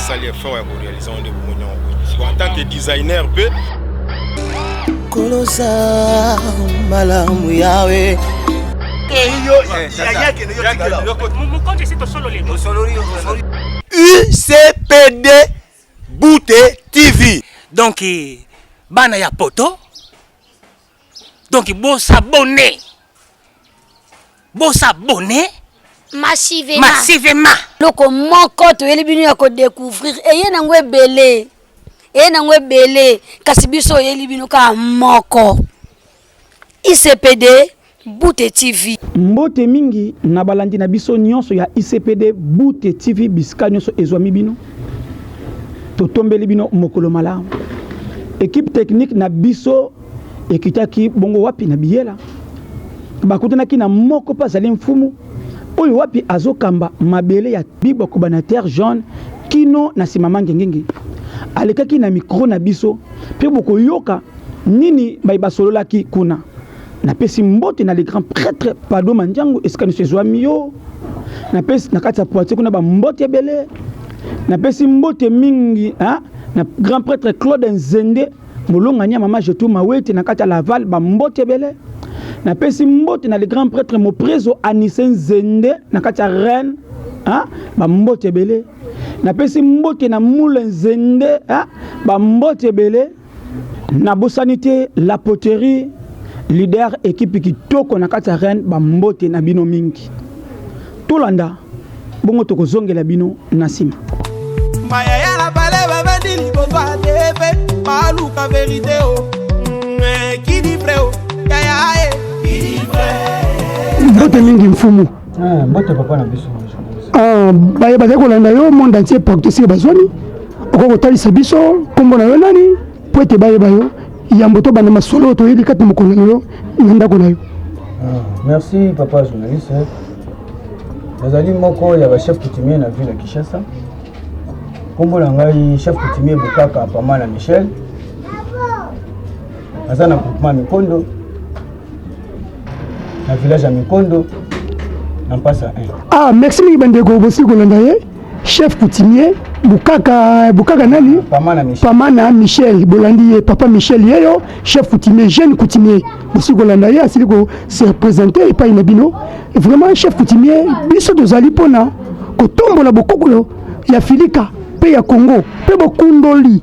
asali effort ya korealize yango nde bomoni yango en tant que designer mpe kolosa malamu yawe ucpd Bute TV. Donc bana ya poto donc bo s'abonner bo s'abonner massivement massivement loko moko toyeli bino ya kodécouvrir eye nango ebele eye nango ebele kasi biso oyeli bino kaka moko ICPD Bute TV. Mbote mingi na balandi na biso nyonso ya ICPD Bute TV bisika nyonso ezwami bino. Totombeli bino mokolo malamu. Equipe technique na biso ekitaki bongo wapi na biyela. Bakutanaki na moko mpe azali mfumu oyo wapi azokamba mabele ya bibwa koba na terre jaune kino na nsima mangengenge. Alekaki na mikro na biso mpe bokoyoka Nini baye basololaki kuna? Napesi mbote na le grand prêtre Pado Mandiangu esika nyonso ezwami yo. Napesi na kati ya Poitiers kuna ba mbote ebele. Napesi mbote mingi hein, na grand prêtre Claude Nzende molongani ya mama Jetou Mawete na kati ya Laval ba mbote ebele. Napesi mbote na le grand prêtre Moprezo Anise Nzende na kati ya Rennes hein, ba mbote ebele. Napesi mbote na Moule Nzende hein, ba mbote ebele. Nabosani te la poterie leader ekipe kitoko na kati ya Rennes ba mbote na bino mingi. Tolanda bongo tokozongela bino na nsima. Maya ya la bale ba bandi liboso atepe baluka verite o oh. mm, eh, kidi pre o oh. yaya e kidi pre mbote mingi mfumu ah, mbote papa na biso ah, baye bazali kolanda yo monde entier partout esika bazwani Okoki kotalisa biso nkombo na yo nani mpo ete bayeba yo yambo tobanda masolo oyo toyebi kati na mokolo na yo na ndako na yo. Ah, merci papa journaliste. Nazali moko ya bachef coutumier na ville ya Kinshasa. Nkombo na ngai chef coutumier Bukaka Pamana Michel. Naza na groupement Mikondo na village ya Mikondo na Mpasa 1. Ah, merci mingi bandeko, bosi kolanda ye. chef coutumier bukaka bukaka nani pamana michel, pamana michel bolandi ye papa michel yeyo chef coutumier jeune coutumier bosi kolanda ye asili ko se représenter epai na bino vraiment chef coutumier biso tozali mpona kotombola bokokolo ya filika mpe ya congo mpe bokundoli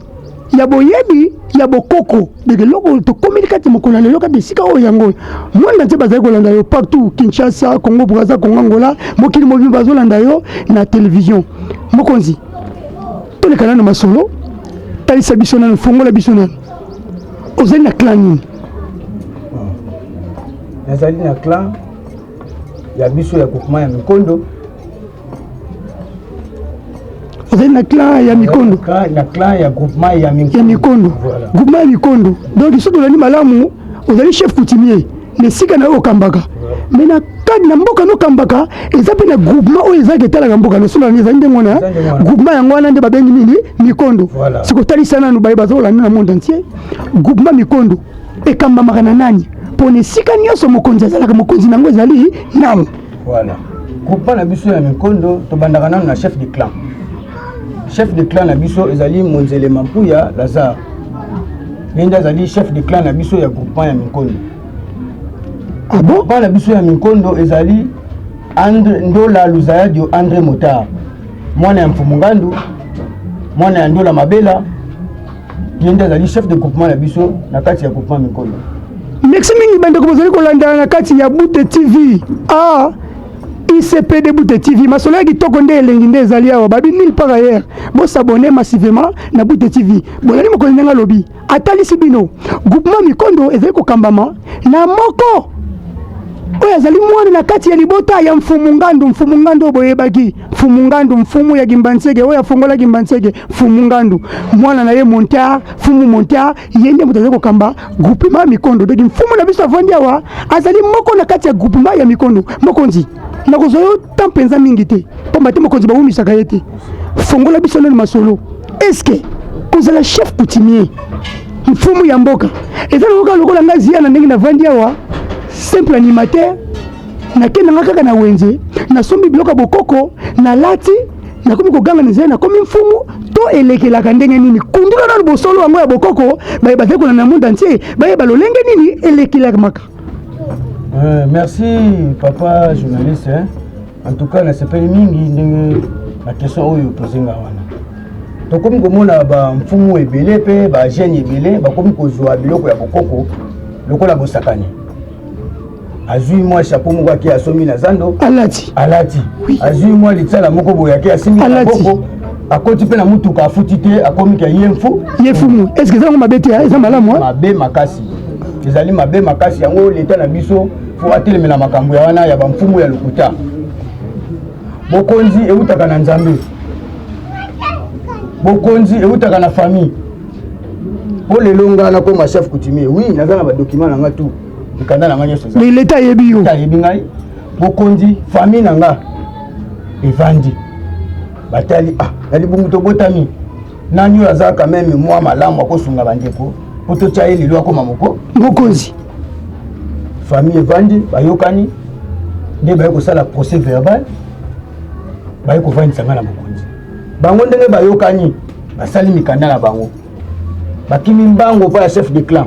ya boyebi ya bokoko ndeke eloko tokomeli kati mokolo ya lelo kati esika oyo yango mwanda ntie bazali kolanda yo partout kinshasa congo braza congo angola mokili mobimba bazolanda yo na televizio mokonzi toleka nano masolo talisa biso nano fongola biso nano ozali na clan nini nazali na clan ya biso ya groupement ya mikondo ozali na clan ya mikondo na clan ya groupement ya mikondo groupement ya mikondo donc soki tolandi malamu ozali chef coutumier na esika na yo okambaka me na kadi na mboka nokambaka eza mpe na groupement oyo ezalaki etalaka mboka nosolani ezali ndenge wana groupement yango wana nde babengi nini mikondo sikotalisa nanu baye bazolanda na monde entier groupement mikondo ekambamaka na nani mpo na esika nyonso mokonzi azalaka mokonzi na yango ezali nani Voilà. Groupement na biso ya Mikondo tobandaka nanu na chef de clan. Chef de clan na biso ezali Monzele Mampuya Lazare. Ye nde azali chef de clan na biso ya groupement ya Mikondo. Ah bon? Groupement na biso ya Mikondo ezali Andre Ndola Luzayadio Andre Motard. Mwana ya Mfumu Ngandu, mwana ya Ndola Mabela, ye nde azali chef de groupement na biso na kati ya groupement mikolo merci mingi bandeko bozali kolandana na kati ya bute tv ah. icpd bute tv masolo ya kitoko nde elengi nde ezali awa babi nil par ailleurs bosabone massivement na bute tv bolali mokonzi ndenge alobi atalisi bino groupement mikondo ezali kokambama na moko oyo azali mwana na kati ya libota ya mfumu ngandu mfumu ngandu oyo boyebaki Mfumu Ngandu, mfumu ya Gimbanseke oyo afongola Gimbanseke, Mfumu Ngandu, mwana na ye Montar, Mfumu Montar, ye nde moto azali kokamba groupement Mikondo. Donc mfumu na biso avandi awa, azali moko na kati ya groupement ya Mikondo. Mokonzi, nakozwa yo temps mpenza mingi te, mpamba te mokonzi bawumisaka ye te. Fongola biso nanu masolo, eske kozala chef coutumier mfumu ya mboka eza lokola lokola ngai ziya na ndenge navandi awa simple animateur nakendanga kaka na wenze nasombi biloko ya bokoko nalati nakomi koganga na nzela nakomi mfumu to elekelaka ndenge nini kundula nano bosolo yango ya bokoko baye bazekola na monde entier bayeba lolenge nini elekelamaka euh, merci papa journaliste hein? en tout cas nasepeli mingi ndenge na question oyo opozenga wana tokomi komona bamfumu ebele mpe bajeune ebele bakomi kozwa biloko ya bokoko lokola bosakani azui mwa chapeau moko ake asombi na zando alati alati azui mwa litsala moko boye ake asimbi na boko akoti mpe na motuka afuti te akomi ka ye mfu ye fumu est ce que eza yango mabe te ah, eza malamu ah? mabe makasi ezali mabe makasi yango leta na biso fo atelemela makambo ya wana ya bamfumu ya lokuta bokonzi eutaka na nzambe bokonzi eutaka na famille mpo lelo ngai nakoma chef coutumier oui naza na badocument na ngai tout mikanda na ngai nyonso mais leta ayebi yo ayebi ngai bokonzi famille na ngai evandi batali ah na libungu tobotami nani oyo azalaka meme mwa malamu akosunga bandeko mpo totya ye lelo akoma moko mokonzi famille evandi bayokani nde baye kosala procès verbal baye kovandisa ngai na mokonzi bango ndenge bayokani basali mikanda na bango bakimi mbango mpo ya chef de clan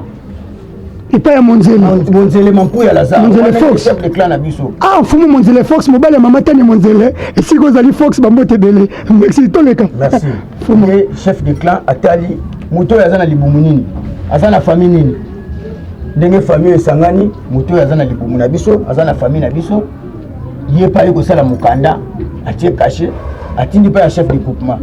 epai ya monzelemonzele mampu ya lazarechef de clan na biso ah mfumu monzele fox mobali ya mama tani monzele esika ozali fox bambote ebele merci toleka merci mfumu chef de clan atali moto oyo aza na libumu nini aza na famille nini ndenge famille esangani moto oyo aza na libumu na biso aza na famille na biso ye epai ye kosala mokanda atie kashe atindi mpe ya chef de groupement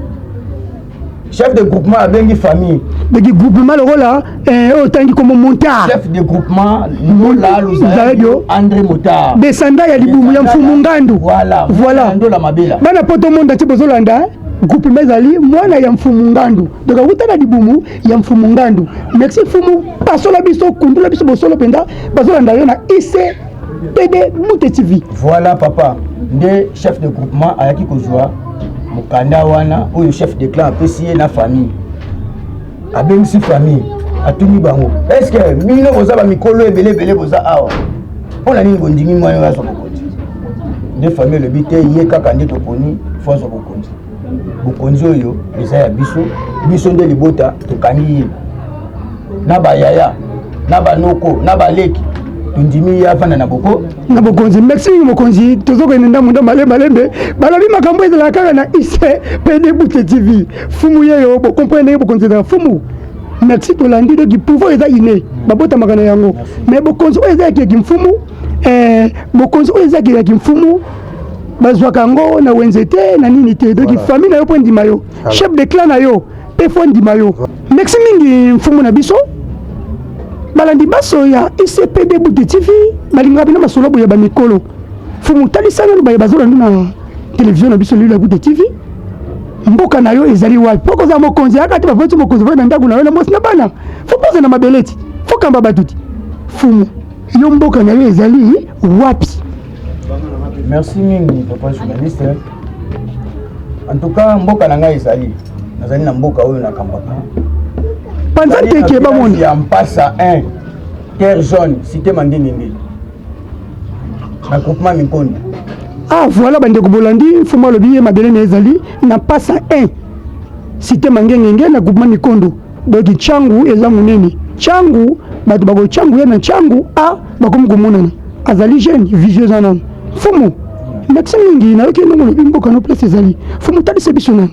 chef de groupement abengi famille beki groupement lokola eh, oyo otangi komo montar chef de groupement lola luzaladio andré motar desanda ya libumu ya mfumu ngandu voilà voilà ndola mabela bana poto monde atie bozolanda eh? groupement ezali mwana ya mfumu ngandu donc awuta na libumu ya mfumu ngandu merci mfumu pasola biso kundula biso bosolo mpenza bazolanda yo na ic pede mute tv voilà papa nde chef de groupement ayaki kozwa mokanda wana oyo chef de clan apesi ye na famille abengisi famille atuni bango eske bino boza bamikolo ebele ebele boza awa mpo na nini bondimi mwana oyo azwa bokonzi nde famille elobi te ye kaka nde toponi fo azwa bokonzi bokonzi oyo eza ya biso biso nde libota tokangi ye na bayaya na banoko na baleki tondimi ye afanda na boko na bokonzi merci mingi mokonzi tozokende ndambo nda malembe malembe balobi makambo ezalaka kaka na ise mpe debute tv fumu yeyo bokomprene ndenge bokonzi ezalaka fumu merci tolandi doki pouvoir eza ine babotamaka na yango mais bokonzi oyo eza ya keki mfumu eh, bokonzi oyo ezaki ya kimfumu bazwaka yango na wenze te na nini te donc famille na yo mpo endima yo chef de clan na yo mpe fo endima yo merci mingi mfumu na biso balandi baso ya icpd bute tv balingaka bino masolo boye bamikolo mfumu talisa nanu baye bazolandi na televizio na biso lelo ya bute tv mboka na yo ezali wapi mpo kozala mokonzi yaka te bavoti mokonzi voi na ndako na yo na mwasi na bana fo poza na mabele ti fo kamba bato ti fumu yo mboka na yo ezali wapi merci mingi papa journaliste en tout cas mboka na ngai ezali nazali na mboka oyo nakambaka panza teke bamoni ya mpasa 1 terre jaune cité mandingenge na groupement minkonda ah voilà bandeko bolandi mfumu alobi ye mabele na ezali na mpasa 1 cité mangengenge na groupement mikondo Donc changu eza munene changu bato bako changu ye na changu a bakomi komonana azali jeune visio eza nano fumu ndakisa mingi nayoki ndongo lobi mboka no place ezali fumu talisa biso nano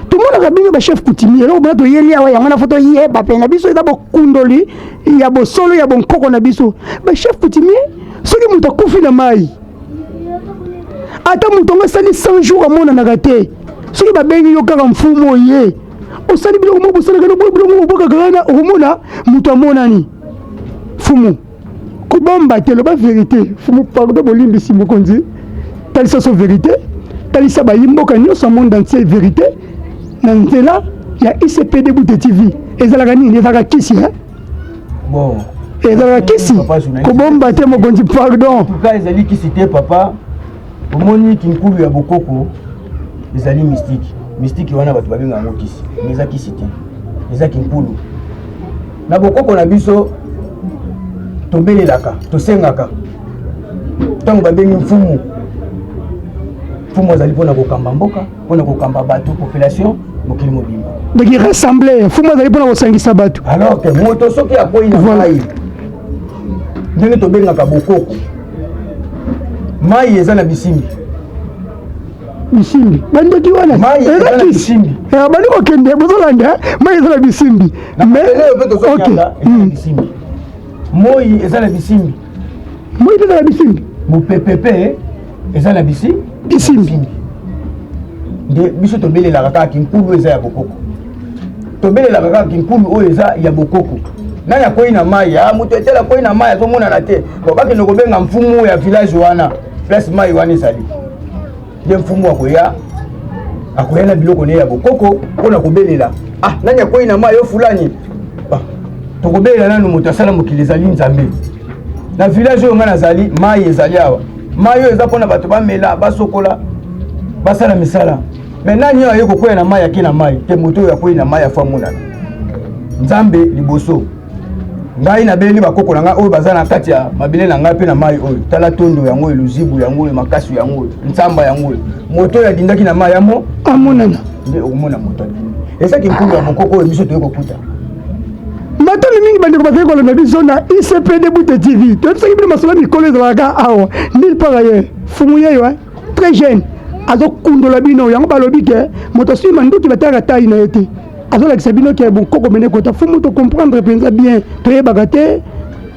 tomonaka bino bachef coutumier eloko mpona toyeli awa yango na fo toyeba mpe na biso eza bokundoli ya bosolo ya bonkoko na biso bachef coutumier soki moto akufi na mai ata moto yango asali 100 jour amonanaka te soki babengi yo kaka mfumu oye osali biloko moko bosalaka no biloko moko bobwakaka wana okomona moto amonani fumu kobomba te loba verité fumu pardon bolimbisi mokonzi talisa so verité talisa bayi mboka nyonso ya monde entier verité na nzela ya icpd bute tv ezalaka nini ezalaka kisi eh? bon ezalaka kisi kobomba te mokonzi pardon ezali kisi te papa Omoni kinkulu ya bokoko ezali mistiki. Mistiki wana bato babenga yango kisi, mais eza kisi te, eza kinkulu. Na bokoko na biso tobelelaka, tosengaka ntango babengi mfumu. Mfumu azali mpo na kokamba mboka, mpo na kokamba bato, population mokili mobimba. Donc il ressemblait, mfumu azali mpo na kosangisa bato. Alors que moto soki akwei na mai ndenge tobengaka bokoko mai eza na bisimbi bisimbi bandeki wana erakisiabandi eh, kokende bozolanda eh? mai eza na bisimbi moi eza na bisimbi moi mpe eza na bisimbi mopepe mpe eza na bisi bisimbi nde biso tobelelaka kaka kinkulu eza ya bokoko tobelelaka kaka kinkulu oyo eza ya bokoko nani akwei na mai ah, moto etele akwei na mai azomonana te po bakende kobenga mfumu ya village wana place mai wana ezali nde mfumu akoya akoya na biloko ne ya bokoko mpo na kobelela ah nani akwei na mai yo fulani ah, tokobelela nanu moto asala mokili ezali nzambe na village oyo ngai nazali mai ezali awa mai oyo eza mpo na bato bamela basokola basala misala me nani oyo aye kokwea na mai ake na mai te moto oyo akwei na mai afo amonana nzambe liboso ngai nabeleli bakoko na ngai oyo baza na kati ya mabele na ngai mpe na mai oyo tala tondo yango oyo luzibu yango oyo makasi yango oyo nsamba yango oyo moto oyo adindaki na mai yamo amonana nde okomona moto ezaki nkulu ya mokoko oyo biso toye kokuta matali mingi bandeko bazali kolanda biso na icpd bute tv toyebisaki bino masolo ya mikolo ezalaka awa nil par ailleurs fumu yeyo très jeune azokundola bino yango balobi ke moto asui manduki batalaka tai na ye te azolakisa bino ke bonkoko mene kota fo moto comprendre mpenza bien toyebaka te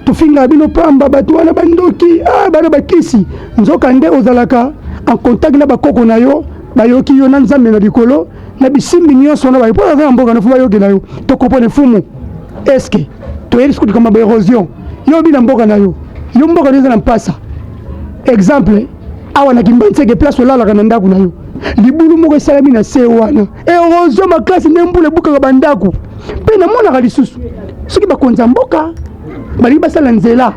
tofingaka bino pamba bato wana bandoki ah, bana bakisi nzoka nde ozalaka en contact na bakoko na yo bayoki yo na nzambe na likolo na bisimbi nyonso wana bayo mpo aza na mboka na fo bayokela yo tokopone fumu eske toyebi sikoyo likambo ya baerosion yo obi na mboka na yo yo mboka na yo eza na mpasa exemple awa na kimbanseke place olalaka na ndako na yo libulu moko esalami na se wana erosion makasi nde mbula ebukaka bandako mpe namonaka lisusu soki bakonzi ya mboka balingi basala nzela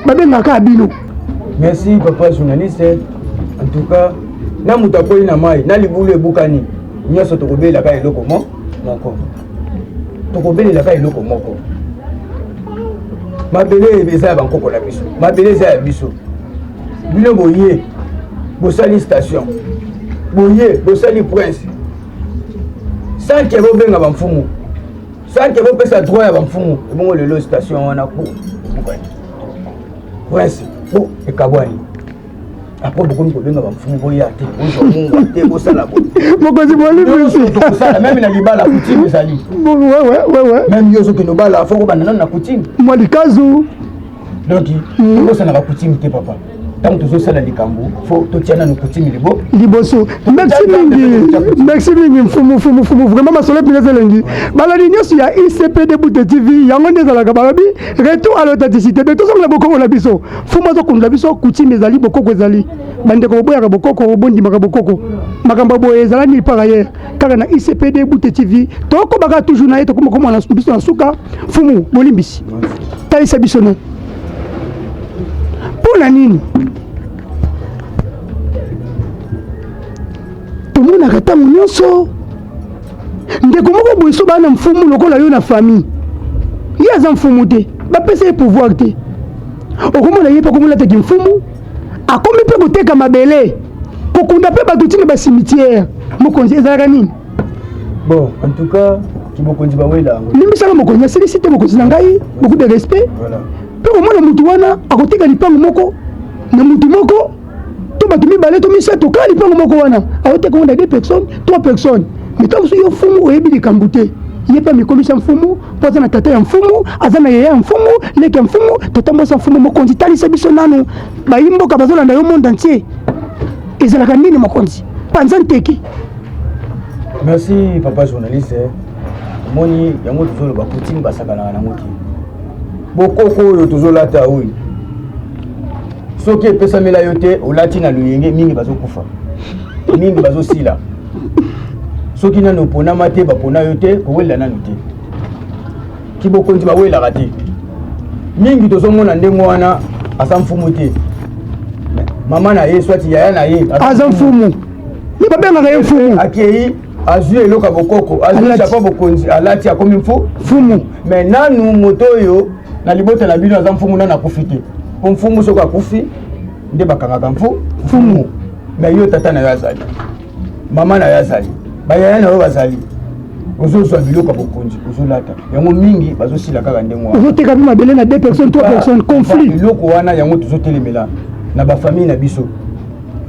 babengaka bino merci papa journaliste en tout cas na moto akweli na mai na libulu ebukani nyonso tokobelaka eloko mo moko tokobelelaka eloko moko mabele eza ya bankoko na biso mabele eza ya biso bino boye bosali station boye bosali prince sanke bobenga bamfumu sanke bopesa droit ya bamfumu ebongo lelo station wana po prince po ekabwani après bokomi kobenga bamfumu boya te bozwa mungwa te bosala bokonzi bolimokosala meme na libala kutime ezali meme yo ozokende obala fo kobanda nano na kutime mwa likazu donc okosanaka mm. kutime te papa ntango tozosala likambo fo totya nanu kutime libo liboso merci mingi merci mingi mfumu fumu fumu vraiment masolo mpineza elengi balandi nyonso ya icp de bute tv yango nde ezalaka balobi retour à l'authenticité de tozongela bokongo na biso fumu azokundola biso kutime ezali bokoko ezali bandeko boboyaka bokoko bondimaka bokoko makambo boye ezala nini par ailleurs kaka na icpd bute tv tokobaka toujours na ye tokomakomana biso na suka fumu bolimbisi talisa biso na mpo na nini tomonaka ntango nyonso ndeko moko boye so baa na mfumu lokola yo na famille ye aza mfumu te bapesa ye pouvoir te okomona ye mpe akomolataki mfumu akomi mpe koteka mabele kokunda mpe bato ntina basimitiere mokonzi ezalaka nini bon en tout cas kimokonzi bawela yango limbisaka mokonzi asilisi te mokonzi na ngai beaucoup de respect mpe komona motu wana akotika lipango moko na motu moko to bato mibale to misato kaka lipango moko wana aoteka ngo na deux personnes trois personnes mitako mosusu yo fumu oyebi likambo te ye mpe amikomisi ya mfumu mpo aza na tata ya mfumu aza na yeye ya mfumu leki ya mfumu tata mwasi ya mfumu mokonzi talisa biso nanu bayi mboka bazolanda yo monde entier ezalaka nini mokonzi panza nteki merci papa journaliste omoni yango tozoloba poutine basakanaka nango te bokoko oyo tozolata oyo soki epesamela yo te olati na loyenge mingi bazokufa mingi bazosila soki nanu oponama te bapona yo te kowelela nanu te kibokonzi bawelaka te mingi tozomona ndenge wana aza mfumu te mama na ye swati yaya na ye aza mfumu ye babengaka ye mfumu akei azwi eloko ya bokoko azwi japa bokonzi alati akomi mfu mfumu me nanu moto oyo na libota na bino aza mfumu nanu akufi te mpo mfumu soki akufi nde bakangaka mfu mfumu me yo tata na yo azali mama na yo azali bayaya na yo bazali ozozwa biloko ya bokonzi ozolata yango mingi bazosila kaka ndenge wana ozoteka mpe mabele na deux personnes trois personnes conflit biloko wana yango tozotelemela na bafamille na biso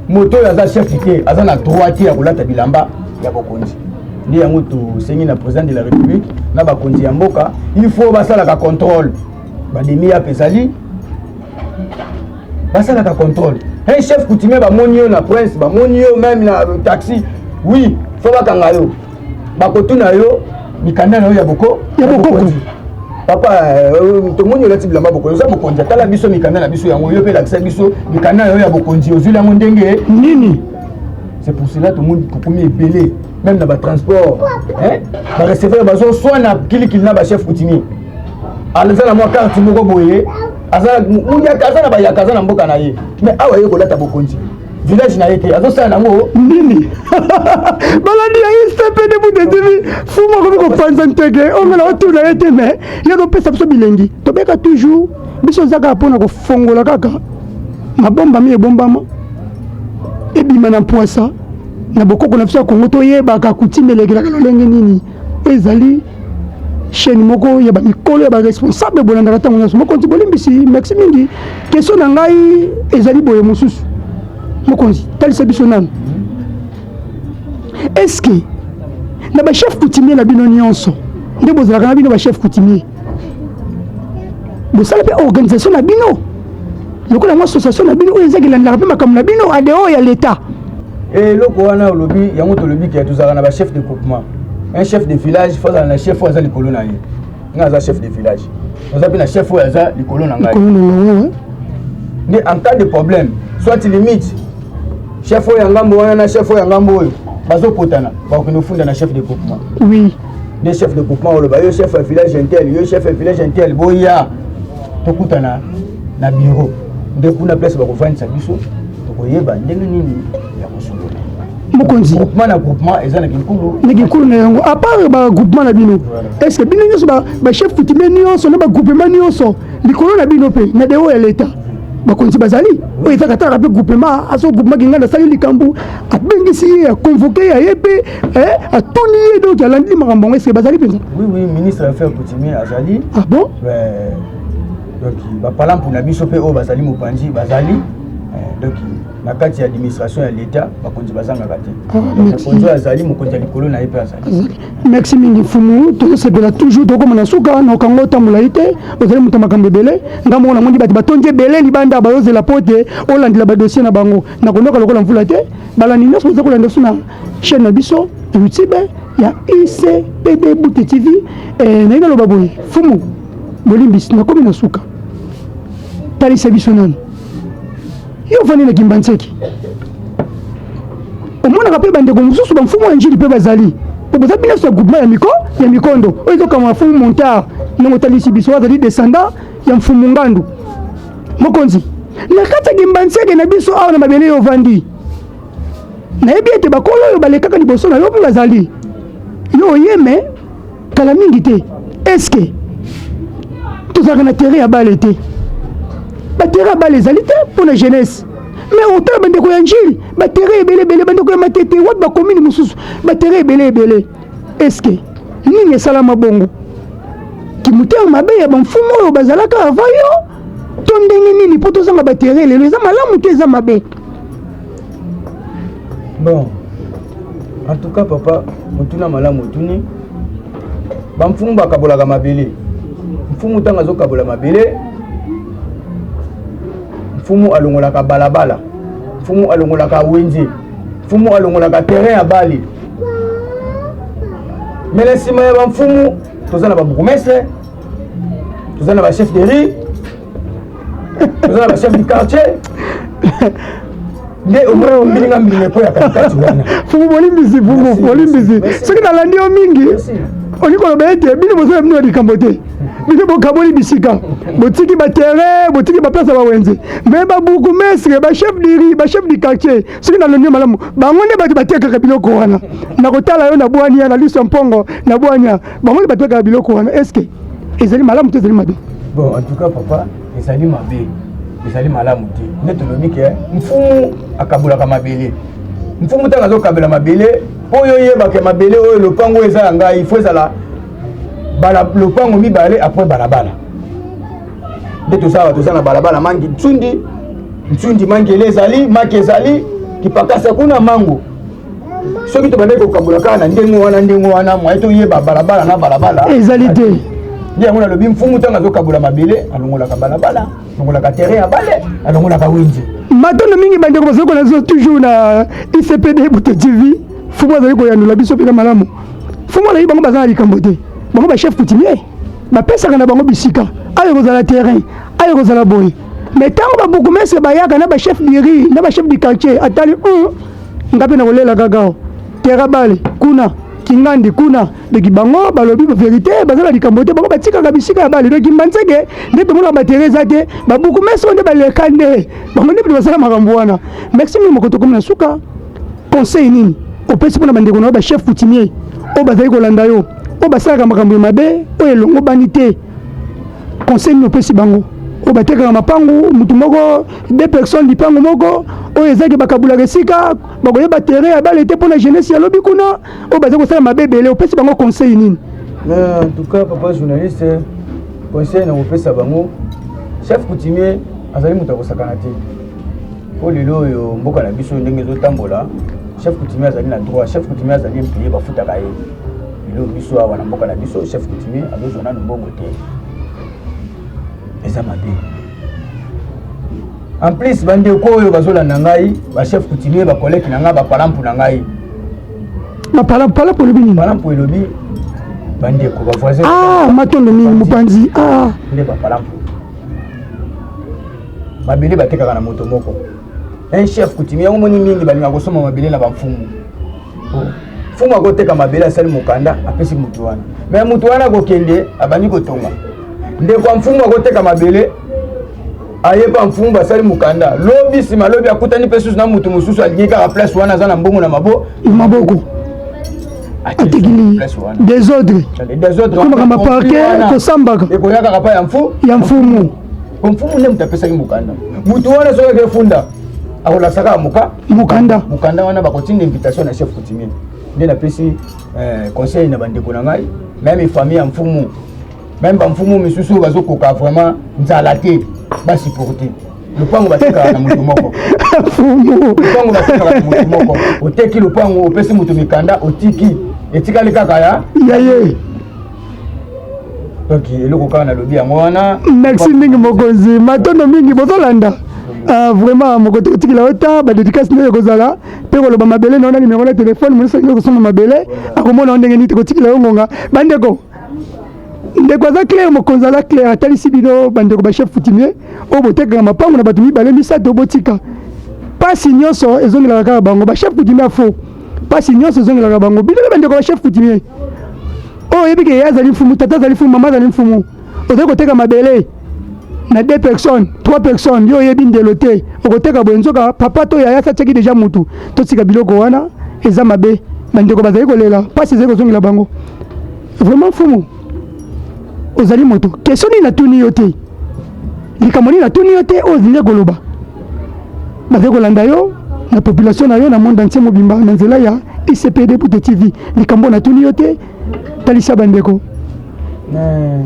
moto oyo aza chef te aza na droit te ya kolata bilamba ya bokonzi nde yango tosengi na président de la république na bakonzi ya mboka il faut basalaka contrôle bademi yape ezali basalaka contrôle un chef coutumier bamoni yo na prince bamoni yo meme na taxi oui fo bakanga yo bakotuna yo mikanda na yo ya boko ya bokonzi papa euh, tomoni olati bilamba bokonzi oza mokonzi atala biso mikanda na biso yango yo mpe elakisa biso mikanda na yo ya bokonzi ozwili yango ndenge nini c'est pour cela tomoni kokomi ebele même na batransport bareceveur bazoswana kilikili na bachef coutumier aza na mwa karte moko boye aza na bayaka aza na mboka na ye mais awa ye kolata bokonzi village na ye te azosala nango nini balandi ya istp nde budetimi fumu akomi kopanza nteke ongela otuna ye te me ye azopesa biso bilengi tobeka toujours biso eza kaka mpona kofongola kaka mabombami ebombama ebima na mpwasa na bokoko na biso ya kongo toyebaka kutime elekelaka lolenge nini ezali chaîne moko ya ba mikolo ya ba responsable bolandaka ntango nyonso mokonzi bolimbisi merci mingi question na ngai ezali boye mosusu mokonzi talisa biso nanu est ce que na ba chef coutumier na bino nyonso nde bozalaka na bino ba chef coutumier bosala mpe organisation na bino lokola yango association na bino oyo ezaki elandaka mpe makambo na bino adeo ya leta eh, eloko wana olobi yango tolobi ke tozalaka na bachef de groupement un chef de village fo azala na chef oyo aza likolo na ye ngai aza chef de village oza mpe na chef oyo aza likolo na ngai nde en cas de problème soit limite chef oyo ya ngambo wana na chef oyo ya ngambo oyo bazopotana bakokende ofunda na chef de groupement oui de chef de groupement oloba yo chef ya village intel yo chef ya village intel boya tokutana na bureau nde kuna place bakofandisa biso tokoyeba ndenge nini ya kosolola mokonzi groupement na groupement eza na kinkulu na kinkulu na yango apart bagroupement na bino est ce que bino nyonso bachef coutumier nyonso na bagroupement nyonso likolo na bino mpe na deo ya leta bakonzi bazali oyo ezaka talaka mpe groupement aso groupement kinganda asali likambo abengisi ye akonvoke ya ye mpe Eh, atuni ye donc alandi makambo yango ese bazali mpenza oui oui ministre ya affaire coutumier azali ah bon euh, donc bapalampu na biso mpe oyo bazali mopanzi bazali euh, donc na kati ya administration ya leta bakonzi bazangaka te ah, mokonzi oyo azali mokonzi ya likolo na ye mpe azali merci mingi mfumu tozosepela toujours tokoma na suka na okango otambola ye te ozali moto ya makambo ebele nga moko namoni bato batondi ebele libanda bayozela mpo ete olandela badossier na bango nakondoka lokola mvula te balandi nyonso oza kolanda biso na chaîne na biso youtube ya icpd bute tv eh, naye naloba boye fumu bolimbisi nakomi na suka talisa biso nani yo ofandi na kimbanseki omonaka mpe bandeko mosusu bamfumu ya njili mpe bazali mpo boza bino nyonso ya groupement ya miko ya mikondo oyo ezokanga na fumu montar ndenge otalisi biso azali descendant ya mfumu ngandu mokonzi na kati ya kimbanseki na biso awa na mabele yo ofandi nayebi ete bakolo oyo balekaka liboso na yo mpe bazali yo oyeme kala mingi te eske tozalaka na terrain ya bale te baterrain ya bale ezali te mpo na jeunesse me otala bandeko ya njili baterrain ebele ebele bandeko ya matete wapi bakomini mosusu baterrain ebele ebele eske nini esalama bongo kimotema mabe ya bamfumu oyo bazalaka avant yo to ndenge nini mpo tozanga batere lelo eza malamu te eza mabe bon en tout cas papa motuna malamu otuni bamfumu bakabolaka mabele mfumu ntango azokabola mabele mfumu alongolaka balabala mfumu alongolaka wenze mfumu alongolaka terrain ya bale me na nsima ya bamfumu toza na babourgmestre toza na bachef de rue toza na bachef du quartier nde omilinga mbilinga mpo ya katikati wana fumu bolimbisi fumu bolimbisi soki nalandi yo mingi olingi koloba ete bino bozala bino ya likambo te bino bokaboli bisika botiki baterrain botiki baplace ya bawenze me babourgmestre bachef diri bachef du quartier soki nalongi malamu bango nde bato batekaka biloko wana nakotala yo na bwania na liso mpongo na bwania bango nde batekaka biloko wana eske ezali malamu to ezali mabe bon en tout cas papa ezali mabe ezali malamu te nde tolobi ke mfumu akabolaka mabele mfumu ntango azokabela mabele mpo oyo oyebake mabele oyo lopango oyo eza ya ngai ifo ezala lopango mibale apres balabala nde tozala toza na balabala mangi nsundi nsundi mangele ezali maki ezali kipakasa kuna mango soki tobandaki kokabola kaka na ndenge wana ndenge wana mwaye toyeba balabala na balabala ezali te nde yango nalobi mfumu ntango azokabola mabele alongolaka balabala alongolaka terrain ya bale alongolaka wenze matondo mingi bandeko bazali kolakisa toujours na icpd buto tv fumu azali koyanola biso mpenza malamu fumu azali bango baza na likambo te bango bachef coutumier bapesaka na bango bisika ayo ekozala terrain ayo ekozala boye me ntango babourgmestre bayaka na bachef du riz na bachef du quartier atali um, nga mpe nakolela kakao terra bale kuna kingandi kuna doki bango balobi verité baza na likambo te bango batikaka bisika ya bale doki mbanzeke nde tomonaka batere eza te babourgmestre nde baleka nde bango nde bato basala makambo wana maxime moko tokomi na suka conseil nini opesi mpo na bandeko na yo bachef coutumier oyo bazali kolanda yo oyo basalaka makambo ya mabe oyo elongobani te conseil nini opesi bango oyo batekaka mapangu motu moko de personne lipangu moko oyo ezaki bakabulaka esika bakoyeba terrain ya bale te mpo na jeunesse ya lobi kuna oyo bazali kosala mabe ebele opesi bango conseil nini en tout cas papa journaliste conseil na kopesa bango chef coutumier azali moto ya kosakana te mpo lelo oyo mboka na biso ndenge ezotambola chef coutumier azali na droit chef coutumier azali implie bafutaka ye lelo biso awa na mboka na biso chef coutumier azozwa nanu mbongo te eza mabe en plus bandeko oyo bazolanda ngai bachef coutumier bakoleki na ngai bapalampu na ngai bapalampu elobi nini palampu elobi bandeko bavoisin ah, matondo mingi mopanzi ah. nde bapalampu mabele batekaka na moto moko un chef coutumier yango moni mingi balinga kosomba mabele na bamfumu mfumu akoteka mabele asali mokanda apesi moto wana me moto wana akokende abandi kotonga ndeko ya mfumu akoteka mabele aye mpa mfumu basali mokanda lobi nsima lobi akutani mpe susu na moto mosusu alingi kaka place wana aza na mbongo na mabo maboko atikili desordre desordre komaka maparke kosambaka ekoyakaka mpa ya mfu ya mfumu mfumu nde moto apesaki mokanda moto wana soki akefunda akolakisa kaka moka mokanda mokanda wana bakotinda invitation na chef coutumier nde napesi eh, conseil na bandeko na ngai meme famille ya mfumu meme bamfumu misusu bazokoka vraiment nzala te basupporte lopango batekaka na moto moko lopango batekaka na moto moko oteki lopango opesi moto mikanda otiki etikali kaka ya yaye donc eloko kaka nalobi yango wana merci mingi mokonzi matondo mingi bozolanda ah, vraiment mokoto kotikela yo ta badedikasi nde ekozala mpe koloba mabele na yo na nimero na telefone mosi alingi kosomba mabele akomona yo ndenge nini tokotikela yo ngonga bandeko ndeko aza claire mokonzi aza claire atalisi bino bandeko bachef coutumier oyo botekaka mapango na bato mibale misato botika mpasi nyonso ezongelaka kaka bango bachef coutumier ya faux mpasi nyonso ezongelaka bango bino nde bandeko bachef coutumier oyo oyebi ke ye azali mfumu tata azali mfumu mama azali mfumu ozali koteka mabele na deux personnes trois personnes yo oyebi ndelo te okoteka boye nzoka papa to yaya satiaki deja mutu totika biloko wana eza mabe bandeko bazali kolela mpasi ezali kozongela bango vraiment mfumu ozali moto question nini natuni yo te likambo nini natuni yo te oyo ozingi koloba bazali kolanda yo na population na yo na monde entier mobimba na nzela ya icpd pute tv likambo natuni yo te talisa bandeko eh,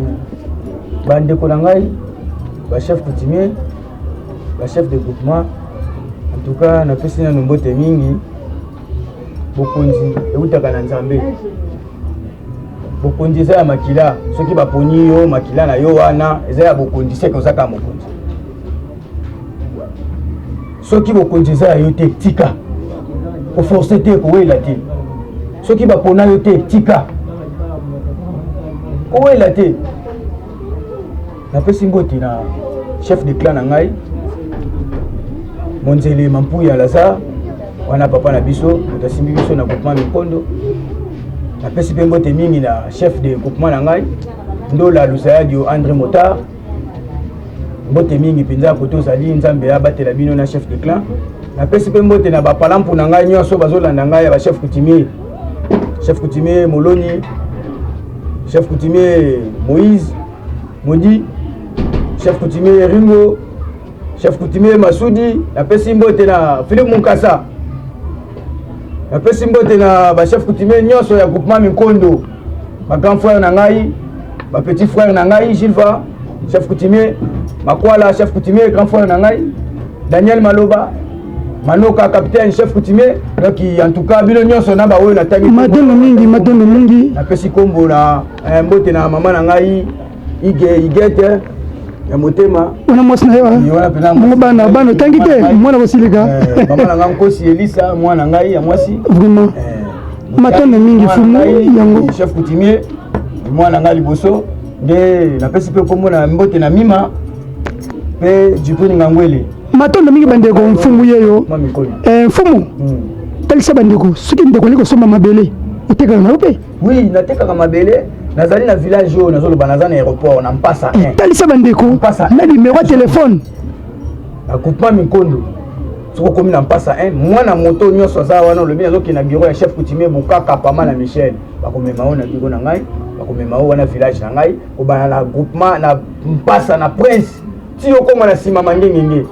bandeko na ngai bachef coutumier bachef de groupement en tout cas napesi nano mbote mingi bokonzi eutaka na nzambe bokonzi eza ya makila soki baponi yo makila na yo wana eza ya bokonzi seke oza kaka mokonzi soki bokonzi eza ya yo te tika koforce te kowela te soki bapona yo te tika kowela te napesi mbote na chef de clan na ngai monzele mampuyi ya lazare wana papa na biso moto asimbi biso na groupement mikondo napesi mpe mbote mingi na chef de groupement na ngai ndola lusayadio andre motard mbote mingi mpenza kote ozali nzambe abatela bino na chef de clan napesi mpe mbote na bapalampu na ngai nyonso bazolanda ngai ya bachef coutumier chef coutumier moloni chef coutumier moïse Modi chef coutumier Ringo, chef coutumier Masudi, napesi mbote na Philippe Munkasa. Napesi mbote na ba chef coutumier nyonso ya groupement Minkondo. Ba grand frère na ngai, ba petit frère na ngai Gilva, chef coutumier Makwala, chef coutumier grand frère na ngai Daniel Maloba, manoka capitaine chef coutumier donc en tout cas bino nyonso na baoyo natangi matondo mingi matondo mingi napesi nkombo na Eh, mbote na mama na ngai ige igete ya motema wana mwasi na ye bango bana bana otangi te mwana kosilika eh, mama na ngai nkosi elisa mwana na ngai ya mwasi vraiment eh, matanda mingi fumu yango chef coutumier mwana na ngai liboso nde napesi mpe nkombo na mbote na mima mpe jipuni ngangwele matondo mingi bandeko mfumu yeyo mfumu talisa bandeko soki ndeko ali kosomba mabele otekaka na yo mpe Oui, natekaka mabele nazali na village oyo nazoloba naza na aéroport na mpasa eh, talisa bandeko na nimero ya telefone na groupement minkondo soki okomi na mpasa 1 mwana moto nyonso aza wana olobi nazokende na biro ya chef coutumier bokaka pama na michel bakomema oyo na biro na ngai bakomema oyo wana village na ngai kobana na groupement na mpasa na prince ti okoma na nsima mangengenge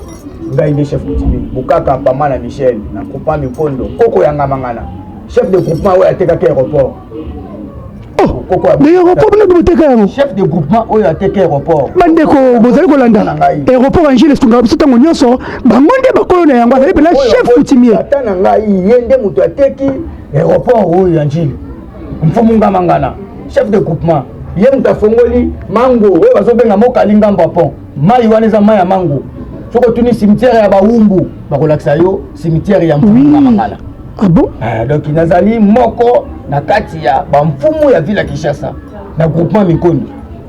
ngai nde chef kutimi bukaka pama na michel na kupa mikondo koko ya ngamangana chef de groupement oyo atekaki aéroport aéroport bino boteka yango chef de groupement oyo ateka aéroport bandeko bozali kolanda aéroport angele esungaka biso ntango nyonso bango nde bakolo na yango azali mpena chef coutumier ata na ngai ye nde moto ateki aéroport oyo ya njili mfumu ngamangana chef de groupement ye moto afongoli mango oyo bazobenga mokali ngambo ya pont mai wana eza mai ya mango soki otuni cimetière ya bawumbu bakolakisa yo cimetière ya mfumu ngamangana ah bon? ah, donc nazali moko na kati ya bamfumu ya ville ya kinshasa na groupement mikoni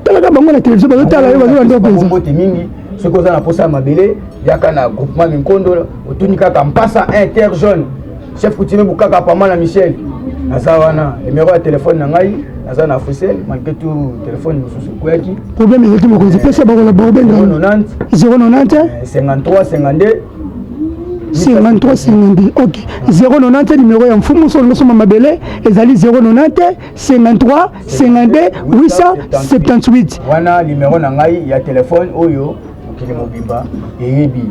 talaka bango na televizio bazotala yo bazolanda mpenza mbote mingi soki oza na mposa ya mabele yaka na groupement minkondo otuni kaka mpasa inter jaune chef coutumier bukaka pama na michel naza wana numero ya telefone na ngai naza na africel malgré tout telefone mosusu ekweyaki problème ezalaki mokonzi pesa bango na baobenga 090 53 52 53 52 ok 090 numero ya mfumu solo losoma mabele ezali 090 53 52 878 wana limero na ngai ya telefone oyo mokili mobimba eyebi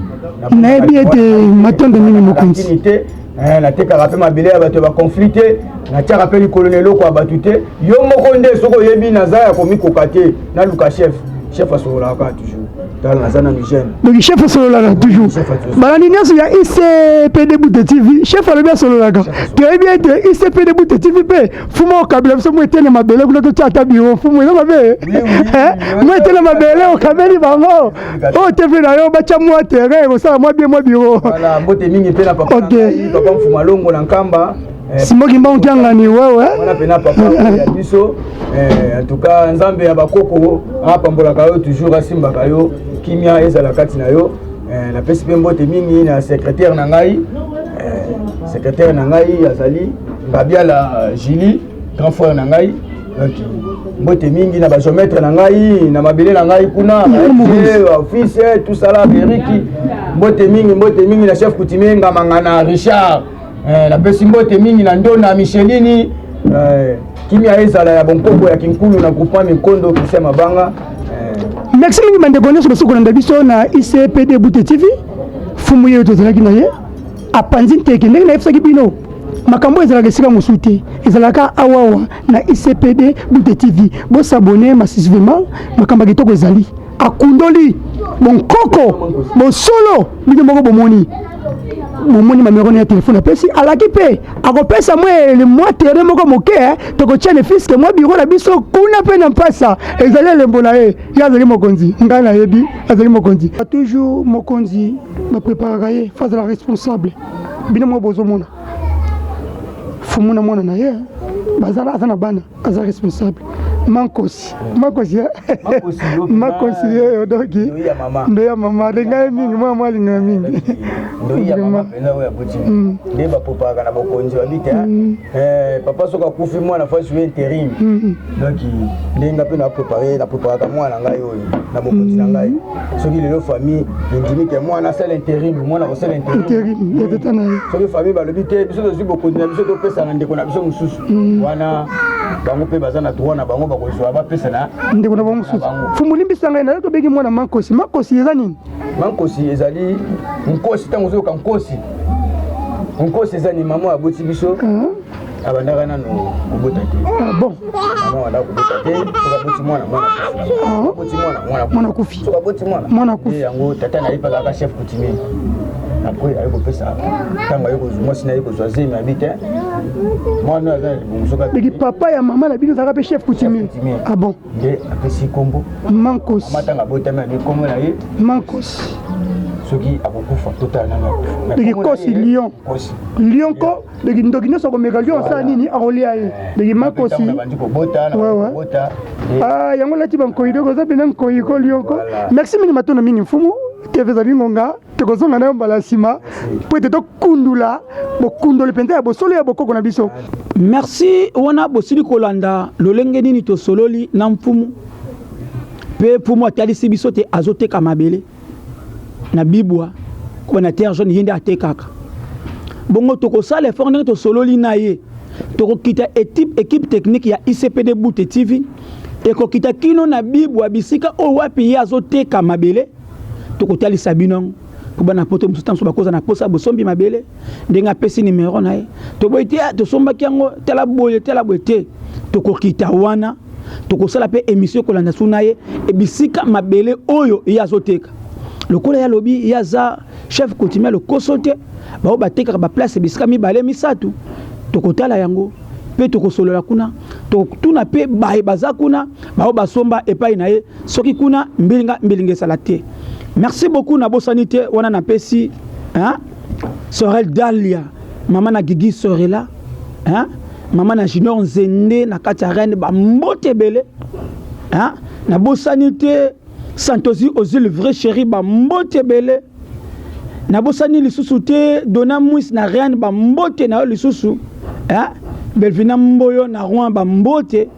nayebi ete matondo mingi mokonzi te eh, natekaka mpe mabele ya bato ya bakonflit te natiaka mpe likolo na eloko ya bato te yo moko nde soki oyebi naza ya komikoka te naluka chef chef asololaka toujours tala aza nanu jeune donc chef asololaka toujours balandi nyonso ya icpd bute tv chef alobi asololaka toyebi ete icpd bute tv mpe fuma okabela biso mo etene mabele kuna totya ata biro fumu eza mabe mo etene mabele okabeli bango oyo oh, tv na yo batya mwa terrain ekosala mwa bie mwa biro mbote mingi mpe na papa mfuma longo na nkamba Simon Kimbangu Kiangani wewe. Wana pena papa ya biso eh en tout cas Nzambe ya bakoko apambolaka yo toujours asimbaka yo kimia ezala kati na yo eh, napesi mpe mbote mingi na secrétaire na ngai eh, secrétaire na ngai azali Ngabiala Julie grand frère na ngai donc mbote mingi na bageometre na ngai na mabele na ngai kuna office tout sala beriki mbote mingi mbote mingi na chef coutumier ngamangana richard Eh, napesi mbote mingi na ndona michelini eh, kimia ezala ya bonkoko ya kinkulu na groupement minkondo kisia mabanga eh. merci mingi bandeko nyonso basuku kolanda biso na icpd bute tv fumu yeyo tozalaki na ye apanzi nteke ndenge nayebisaki bino makambo ezalaka esika mosusu te ezalaka awawa na icpd bute tv bosabone masisvema makambo ya kitoko ezali akundoli bonkoko bosolo bino moko bomoni momoni mamero na ya telefone apesi alaki mpe akopesa mwa mwa tere moko moke eh, tokotia ne fiske mwa biro na biso kuna mpe na mpasa ezali elembo na ye ye azali mokonzi ngai nayebi azali mokonzi toujours mokonzi bapreparaka ye face à la responsable bino moko bozomona fumu na mwana na ye eh, bazala aza na bana aza responsable mankosi makosi makosi yeyo doki ndo ya mama alinga ye mingi mwana mwa alinga ya mingi nde bapopaka na bokonzi babi te papa soki akufi mwana fasi oyo interim donc nde nga mpe naprepare napreparaka mwana ngai oyo na bokonzi na ngai soki lelo famille endimi te mwana asala interim mwana kosala interim soki famille balobi te biso tozwi bokonzi na biso topesa na ndeko na biso mosusu mm. wana bango mpe baza na droit na bango bakozwa bapesa na ndeko na bango mosusu fumulimbisa ngai nayo tobeki mwana mankosi mankosi eza nini mankosi ezali nkosi ntango ozoyoka nkosi nkosi eza ni mama aboti biso mm. abandaka nanu kobota te ah, bon mama abandaka kobota te sokaboti mwana mwana akufi mwana akufi yango tata na ye mpaka aka chef coutumier après aye kopesa ntango aye kozwa mwasi na ye kozwa zemi abi te mwana aza na libongo soki abiki papa ya mama na bino ezalaka mpe chef coutumier ah bon nde apesi nkombo mankos matanga abotami abi nkombo na ye mankos soki akokufa totala nano akufa ndeki kosi lion lion ko ndeki ndoki nyonso akomeka lion asala nini akolia ye ndeki makosi yango lati bankoyi doko oza mpenza nkoyi ko lion ko merci mingi matondo mingi mfumu tv ezali ngonga tokozonga nayo mbala nsima mpo ete tokundula bokundoli mpenza ya bosolo ya bokoko na biso merci wana bosili kolanda lolenge nini tosololi na mfumu mpe mfumu atalisi biso te azoteka mabele na bibwa oyo na terre jaune ye nde atekaka bongo tokosala effort ndenge tosololi na ye tokokita ekipe technique ya icpd bute tv ekokita kino na bibwa bisika oyo wapi ye azoteka mabele tokotalisa bino yango mpo bana poto mosusu ntango bakoza na mposa bosombi mabele ndenge apesi nimero na ye toboyi te ah, tosombaki yango tala boye tala boye te tokokita wana tokosala mpe emission ekolanda su na ye ebisika mabele oyo ye azoteka lokola ye alobi ye aza chef coutumier lokoso te baoyo batekaka baplace bisika mibale misato tokotala yango mpe tokosolola kuna tokotuna mpe baye baza kuna baoyo basomba epai na ye soki kuna mbilinga mbilinga ezala te merci beaucoup nabosani te wana napesi hein? sorel dalia mama na gigi sorela hein? mama na junior nzende na kati ya reine bambote ebele hein? nabosani te santosi ozili vrai chéri bambote ebele nabosani lisusu te dona mwis na reine bambote na yo lisusu hein? belvina mboyo na rouen bambote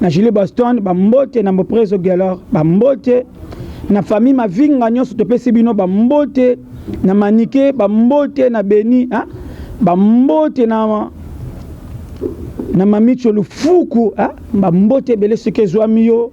na Julie Boston ba mbote na Mboprezo Gelor ba mbote na famille Mavinga nyonso topesi bino ba mbote na Manike ba mbote na Beni hein? ba mbote na na Mamicho Lufuku hein? ba mbote ebele soki ezwami yo